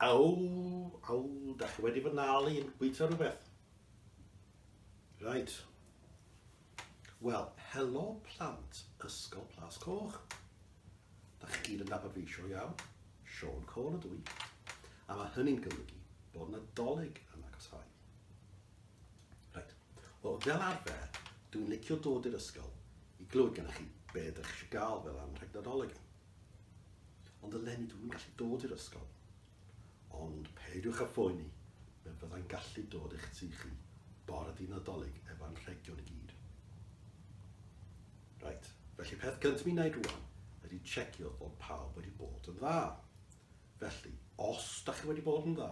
Aw, aw, da chi wedi fy nal i'n bwyta rhywbeth. Right. Wel, helo plant Ysgol Plas Coch. Da chi gyd yn nabod fi, sio iawn. Sean Cole ydw i. A mae hynny'n golygu bod Nadolig yn agosau. Reit. Wel, fel arfer, dwi'n licio dod i'r ysgol i glywed gennych chi be ydych chi eisiau gael fel am rhag Nadolig. Ond eleni dwi'n yn gallu dod i'r ysgol. Ond peidiwch â phoeni, fe fyddai'n gallu dod i'ch tu chi bore di Nadolig efo anrhegion i gyd. Reit, felly peth gyntaf mi'n wneud rwan ydy checio bod pawb wedi bod yn dda. Felly, os da chi wedi bod yn dda,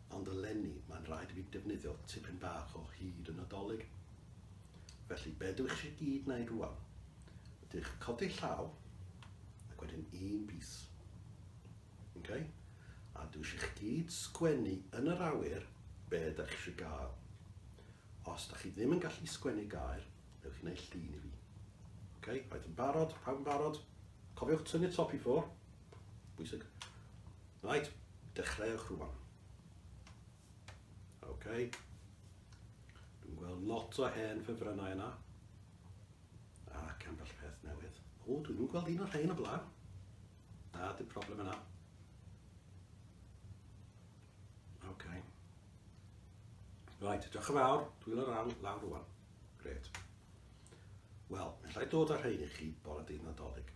Ond eleni mae'n rhaid i fi defnyddio tipyn bach o hud y Nadolig. Felly be dw i chi gyd wneud rwan? Dych codi llaw ac wedyn un bys. Ok? A dw i eisiau chi gyd sgwennu yn yr awyr be dych chi eisiau gael. Os dych chi ddim yn gallu sgwennu gair, newch chi wneud llun i fi. Ok? Rhaid yn barod? Pawb yn barod? Cofiwch tynnu top i ffwr. Bwysig. Right, dechreuwch rwan. OK. Dwi'n gweld lot o hen ffefrynnau yna. Ac ambell peth newydd. O, dwi'n nhw'n gweld un o'r rhain o blaen. Na, dim problem yna. OK. Right, diolch yn fawr. Dwi'n o'r awr lawr rwan. Gret. Wel, mae'n rhaid dod â'r rhain i chi bore dydd nadolig.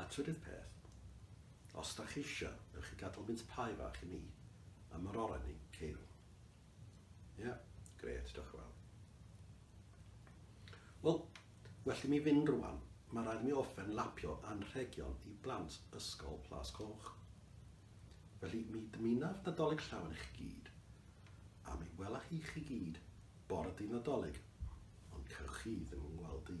A trydydd peth, os dach chi isio, newch chi gadal mince pie fach i mi a ma'r oren ni, Ceirw. Ie, gret, diolch yn fawr. Wel, well i mi fynd rwan, mae rhaid mi offen lapio anrhegion i blant Ysgol Plas Coch. Felly mi dymunaf Nadolig llawn i chi gyd, a mi wela hi chi gyd bore dydd Nadolig, ond cewch chi ddim yn gweld i.